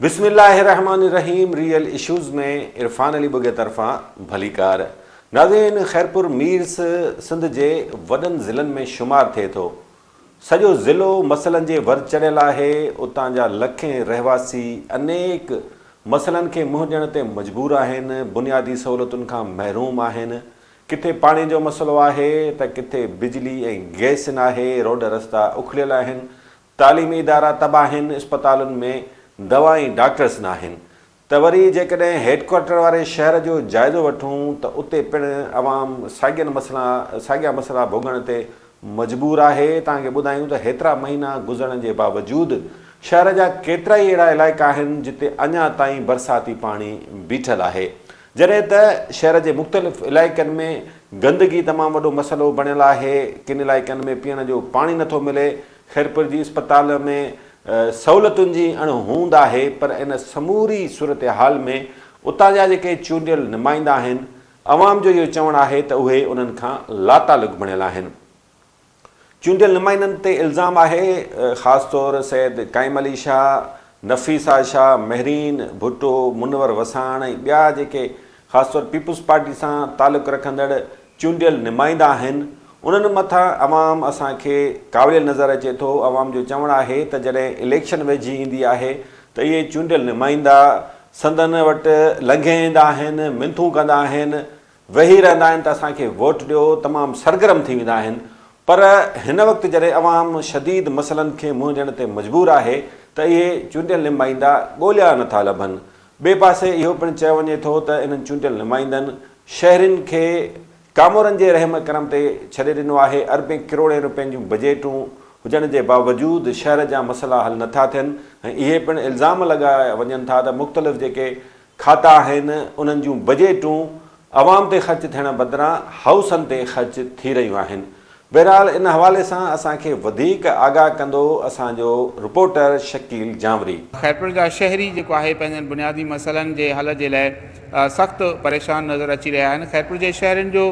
بسم الله الرحمٰن الرحيم ريئل اشوز ۾ عرفان علي ٻگهي طرفان ڀليڪار. ناظرين خيرپور ميرس سنڌ جي وڏن ضلعن ۾ شمار ٿئي ٿو. سڄو ضلعو مسئلن جي ور چڙهيل آهي، اتان جا لکين رهواسي انيڪ مسئلن کي منهن ڏيڻ تي مجبور آهن، بنيادي سهولتن کان محروم آهن، ڪٿي پاڻي جو مسئلو آهي ته ڪٿي بجلي ۽ گئس ناهي، روڊ رستا اکڙيل آهن، تعليمي ادارا تباهه آهن، اسپتالن ۾ دوا ۽ ڊاڪٽرس ناهن ته وري جيڪڏهن هيڊڪوارٽر واري شهر جو جائزو وٺون ته اتي پڻ عوام ساڳين مسئلا ساڳيا مسئلا ڀوڳڻ تي مجبور آهي، توهان کي ٻڌايون ته هيترا مهينا گذرڻ جي باوجود شهر جا ڪيترائي اهڙا علائقا آهن جتي اڃا تائين برساتي پاڻي بيٺل آهي جڏهن ته شهر جي مختلف علائقن ۾ گندگي تمام وڏو مسئلو بڻيل آهي ڪن علائقن ۾ پيئڻ جو پاڻي نٿو ملي خيرپور جي اسپتال ۾ سهولتن جي اڻ هوند آهي پر ان سموري صورتحال ۾ اتان جا جيڪي چونڊيل نمائندا آهن عوام جو اهو چوڻ آهي ته اهي انهن کان لاتعلق بڻيل آهن چونڊيل نمائندن تي الزام آهي خاص طور سيد قائم علي شاهه نفيسه شاهه مهرين ڀٽو منور وساڻ ۽ ٻيا جيڪي خاص طور پيپلز پارٽي سان تعلق رکندڙ چونڊيل نمائندا آهن، انهن مٿان عوام اسان کي ڪاوڙيل نظر اچي ٿو، عوام جو چوڻ آهي ته جڏهن اليڪشن ويجهي ايندي آهي ته اهي چونڊيل نمائندا سندن وٽ لنگهي ايندا آهن، منٿون ڪندا آهن، ويهي رهندا آهن ته اسان کي ووٽ ڏيو، تمام سرگرم ٿي ويندا آهن پر هن وقت جڏهن عوام شديد مسئلن کي منهن ڏيڻ تي مجبور آهي ته اهي چونڊيل نمائندا ڳوليا نٿا لڀن، ٻئي پاسي اهو پڻ چيو وڃي ٿو ته انهن چونڊيل نمائندن شهرين کي ڪامورن جي رحم ڪرم تي ڇڏي ڏنو آهي، اربين ڪروڙين رپين جون بجيٽون هجڻ جي باوجود شهر جا مسئلا حل نه ٿا ٿين ۽ اهي پڻ الزام لڳايا وڃن ٿا ته مختلف جيڪي کاتا آهن انهن جون بجيٽون عوام تي خرچ ٿيڻ بدران هائوسن تي خرچ ٿي رهيون آهن بهرحال ان حوالي سان اسان کي وڌيڪ آگاهه ڪندو اسان جو رپورٽر شڪيل جانوري. خيرپور جا شهري جيڪو آهي پنهنجن بنيادي مسئلن جي حل جي لاء سخت پريشان نظر اچي رهيا آهن خيرپور جي شهرين جو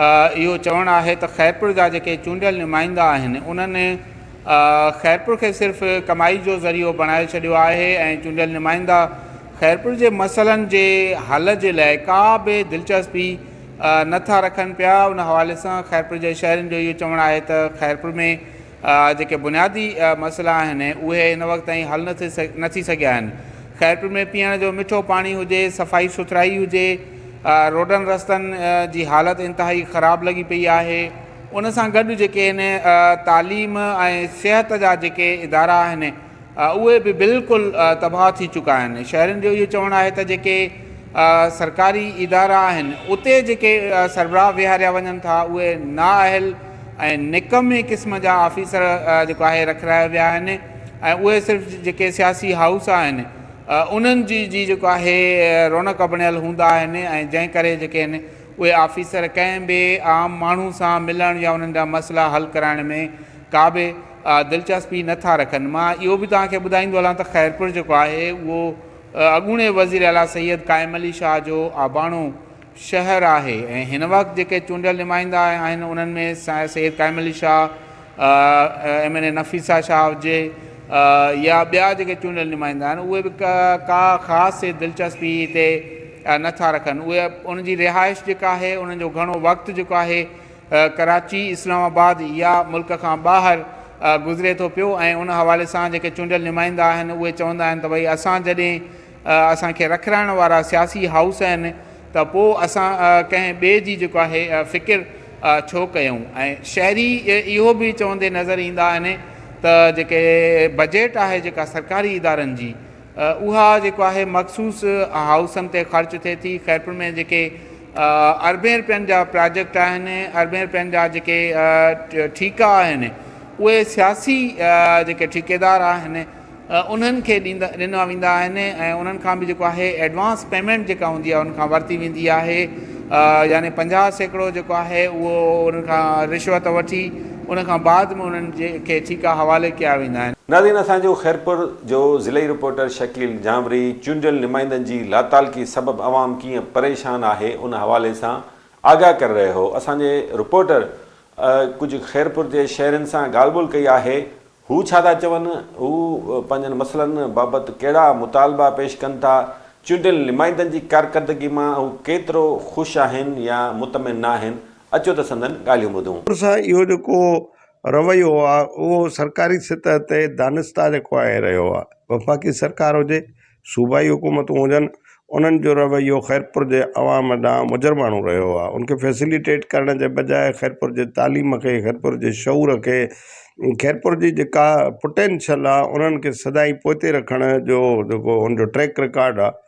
اهو چوڻ آهي ته خيرپور جا جيڪي چونڊيل نمائندا آهن انهن خيرپور کي صرف ڪمائي جو ذريعو بڻائي ڇڏيو آهي ۽ چونڊيل نمائندا خيرپور جي مسئلن جي حل جي لاء ڪا به دلچسپي نه ٿا رکن پيا، ان حوالي سان خيرپور جي شهرين جو اهو چوڻ آهي ته خيرپور ۾ جيڪي بنيادي مسئلا آهن اهي هن وقت تائين حل نه ٿي سگهيا آهن، خيرپور ۾ پيئڻ جو مٺو پاڻي هجي، صفائي سٿرائي هجي، روڊن رستن جي حالت انتهائي خراب لڳي پئي آهي، ان سان گڏ جيڪي هن تعليم ۽ صحت جا جيڪي ادارا آهن. اهي به بلڪل تباهه ٿي چڪا آهن. شهرين جو اهو چوڻ آهي ته جيڪي سرڪاري ادارا آهن اتي جيڪي سربراهه ويهاريا وڃن ٿا اهي نااهل ۽ نڪمي قسم جا آفيسر جيڪو آهي رکرايا ويا آهن ۽ اهي صرف جيڪي سياسي هائوس آهن انهن جي جي جيڪو آهي رونق بڻيل هوندا آهن ۽ جنهن ڪري جيڪي آهن اهي آفيسر ڪنهن به عام ماڻهو سان ملڻ يا انهن جا مسئلا حل ڪرائڻ ۾ ڪابه دلچسپي نه ٿا رکن. مان اهو به توهان کي ٻڌائيندو هلان ته خيرپور جيڪو آهي اهو اڳوڻي وزير اعليٰ سيد قائم علي شاهه جو اباڻو شهر آهي ۽ هن وقت جيڪي چونڊيل نمائندا آهن انهن ۾ Syed Qaim Ali Shah, M N A Nafisa Shah هجي يا ٻيا جيڪي چونڊيل نمائندا آهن اهي به ڪا خاص دلچسپي هتي نه ٿا رکن. اهي ان جي رهائش جيڪا آهي انهن جو گهڻو وقت جيڪو آهي ڪراچي، اسلام آباد يا ملڪ کان ٻاهر گذري ٿو پيو ۽ ان حوالي سان جيڪي چونڊيل نمائندا آهن اهي چوندا آهن ته ڀئي اسان جڏهن اسان کي رکرائڻ وارا سياسي هائوس آهن ته پو اسان ڪنهن ٻئي جي جيڪو آهي فڪر ڇو ڪيون ۽ شهري اهو به چوندي نظر ايندا آهن ته جيڪي بجيٽ آهي جيڪا سرڪاري ادارن جي اها جيڪو آهي مخصوص هائوسن تي خرچ ٿئي ٿي خيرپور ۾ جيڪي اربين رپين جا پراجيڪٽ آهن، اربين رپين جا جيڪي ٺيڪا آهن اهي سياسي جيڪي ٺيڪيدار آهن انهن کي ڏيندا ڏنا ويندا آهن ۽ انهن کان به جيڪو آهي ايڊوانس پيمينٽ جيڪا هوندي آهي انهن کان ورتي ويندي آهي يعني پنجاهه سيڪڙو جيڪو آهي اهو انهن کان رشوت وٺي ان کان بعد ۾ انهن جي کي ٺيڪا حوالي ڪيا ويندا آهن. ناظرين اسان جو خيرپور جو ضلعي رپورٽر شڪيل ڄامري چونڊيل نمائندن جي لاتعلقي سبب عوام ڪيئن پريشان آهي ان حوالي سان آگاهه ڪري رهيو هو اسان جي رپورٽر ڪجهه خيرپور جي شهرين سان ڳالهه ٻولهه ڪئي آهي هو ڇا ٿا چون هو پنهنجن مسئلن بابت ڪهڙا مطالبا پيش ڪن ٿا چونڊيل نمائندن جي ڪارڪردگي مان هو ڪيترو خوش آهن يا مطمئن ناهن اچو ته سندن ڳالهيون ٻڌون. سان اهو جيڪو رويو آهي اهو سرڪاري سطح تي دانستيٰ جيڪو آهي رهيو آهي وفاقي سرڪار هجي صوبائي حڪومتون هجن انهن جو رويو خيرپور جي عوام ڏانهن مجرماڻو رهيو آهي ان کي فيسيليٽيٽ ڪرڻ جي بجاء خيرپور جي تعليم کي خيرپور جي شعور کي خيرپور جي جيڪا پٽينشل آهي انهن کي سدائين پوئتي رکڻ جو جيڪو ان جو ٽريڪ رڪارڊ آهي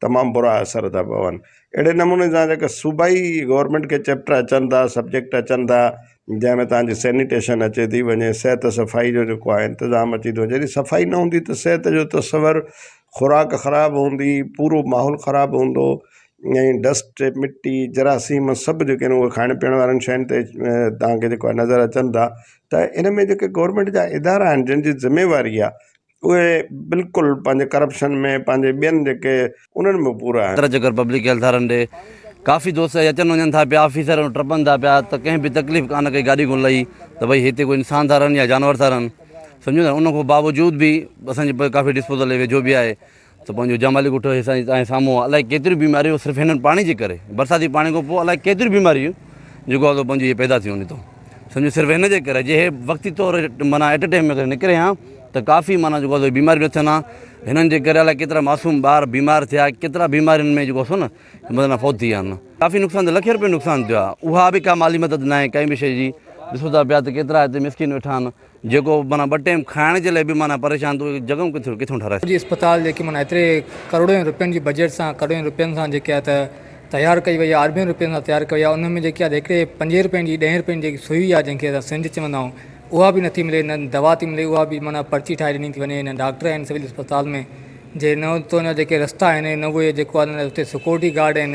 تمام برا اثر ٿا پون اهڙي نموني سان جيڪا صوبائي گورمينٽ کي چيپٽر اچن ٿا سبجيڪٽ اچن ٿا جنهن ۾ تانجي سينيٽيشن اچي ٿي وڃي صحت صفائي جو جيڪو آهي انتظام اچي ٿو جڏهن صفائي نه هوندي ته صحت جو تصور خوراڪ خراب هوندي پورو ماحول خراب هوندو ۽ ڊسٽ مٽي جراثيم سڀ جيڪي آهن اهي کائڻ پيئڻ وارن شين تي تانکي جيڪو آهي نظر اچن ٿا ته ان ۾ جيڪي گورمينٽ جا ادارا آهن جن جي ذميواري آهي اهي بلڪل پنهنجي ڪرپشن ۾ پنهنجي ٻين جيڪي انهن ۾ پورا آهن. ترجيح ڪر پبلڪ هيلٿ وارن ڏي ڪافي دوست اهي اچن وڃن ٿا پيا آفيسر ٽپن ٿا پيا ته ڪنهن به تڪليف ڪانه ڪئي گاڏي ڪونه لهي ته ڀئي هتي ڪو انسان ٿا رهن يا جانور ٿا رهن سمجهو ٿا ان کان باوجود به اسان جي ڪافي ڊسپوزل ويجهو به آهي ته پنهنجو جمالي ڳوٺ هي سائين تنهنجي سامهون آ الائي ڪيتريون بيماريون صرف هنن پاڻي جي ڪري برساتي پاڻي کان پوء الائي ڪيتريون بيماريون جيڪو آ سو پنهنجو هي پيدا ٿيون نيتو سمجهو صرف هن جي ڪري جي هي وقتي طور معنيٰ ايٽ ٽيم ۾ نڪري ها ته ڪافي معنيٰ جيڪو آ سو بيماريون نه ٿين ها هنن جي ڪري الائي ڪيترا معصوم ٻار بيمار ٿيا ڪيترا بيمارين ۾ جيڪو آ سو نه مطلب فوت ٿي ويا آهن ڪافي نقصان ٿيو لکين روپين جو نقصان ٿيو آ اها به ڪا مالي مدد ناهي ڪنهن به شي جي ڏسو ٿا پيا ته ڪيترا هتي مسڪين ويٺا آهن جيڪو معنيٰ ٻه ٽيم کائڻ جي لاء به معنيٰ پريشان ٿو هجي جڳهيون ڪٿي ڪٿيون ٺهرائي. جي اسپتال جيڪي معنيٰ ايتري ڪروڙين رپين جي بجيٽ سان ڪروڙين رپين سان جيڪي آ ته تيار ڪئي وئي آ اربين رپين سان تيار ڪئي وئي آ ان ۾ جيڪي آ ته هڪڙي پنجين رپين جي ڏهين رپين جي جيڪي سوئي آ جنهن کي اسان سرنج چوندا آهيون اها به نٿي ملي نه دوا ٿي ملي اها به معنيٰ پرچي ٺاهي ڏني ٿي وڃي نه ڊاڪٽر آهن سول اسپتال ۾ جي نه اتو جا جيڪي رستا آهن نه اهي جيڪو آ اتي سڪيورٽي گارڊ آهن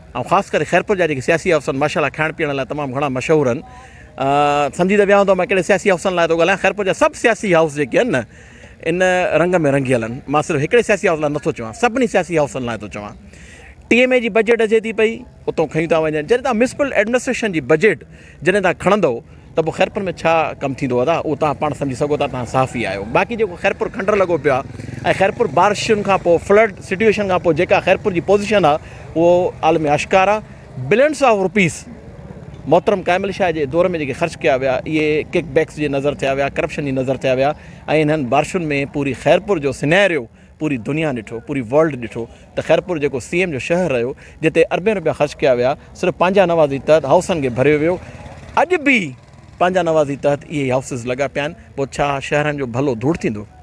۽ خاص ڪري خيرپور جا جيڪي سياسي حوثن ماشاء الله کائڻ پيئڻ لاء تمام گهڻا مشهور آهن سمجهي ته ويا هوندؤ مان ڪهڙي سياسي حوثن لاء ٿو ڳالهايان خيرپور جا سڀ سياسي حوث جيڪي آهن نه ان رنگ ۾ رنگيل آهن مان صرف هڪڙي سياسي حوث لاء نٿو چوان سڀني سياسي حوثن لاء ٿو چوان ٽي ايم اي جي بجيٽ اچي ٿي پئي اتو کيون ٿا وڃن جڏهن تان ميونسپل ايڊمنسٽريشن جي بجيٽ جڏهن تان کڻندؤ ته پوء خيرپور ۾ ڇا ڪم ٿيندو ادا اهو توهان پاڻ سمجهي سگهو ٿا توهان صحافي آهيو باقي جيڪو خيرپور کنڊر لڳو پيو آهي ۽ خيرپور بارشن کان پوء فلڊ سٽيوشن کان پوء جيڪا خيرپور جي پوزيشن آهي اهو عالم آشڪار آهي بلينس آف روپيز محترم ڪائمل شاهه جي دور ۾ جيڪي خرچ ڪيا ويا اهي ڪڪ بيڪس جي نظر ٿيا ويا ڪرپشن جي نظر ٿيا ويا ۽ انهن بارشن ۾ پوري خيرپور جو سنيريو پوري دنيا ڏٺو پوري ورلڊ ڏٺو ته خيرپور جيڪو سي ايم جو شهر رهيو جتي اربين روپيا خرچ ڪيا ويا صرف پنهنجا نوازي تحت هائوسن کي ڀريو ويو اڄ به پنهنجا نوازي تحت اهي هائوسز لڳا پيا آهن پوء ڇا شهرن جو ڀلو ڌوڙ ٿيندو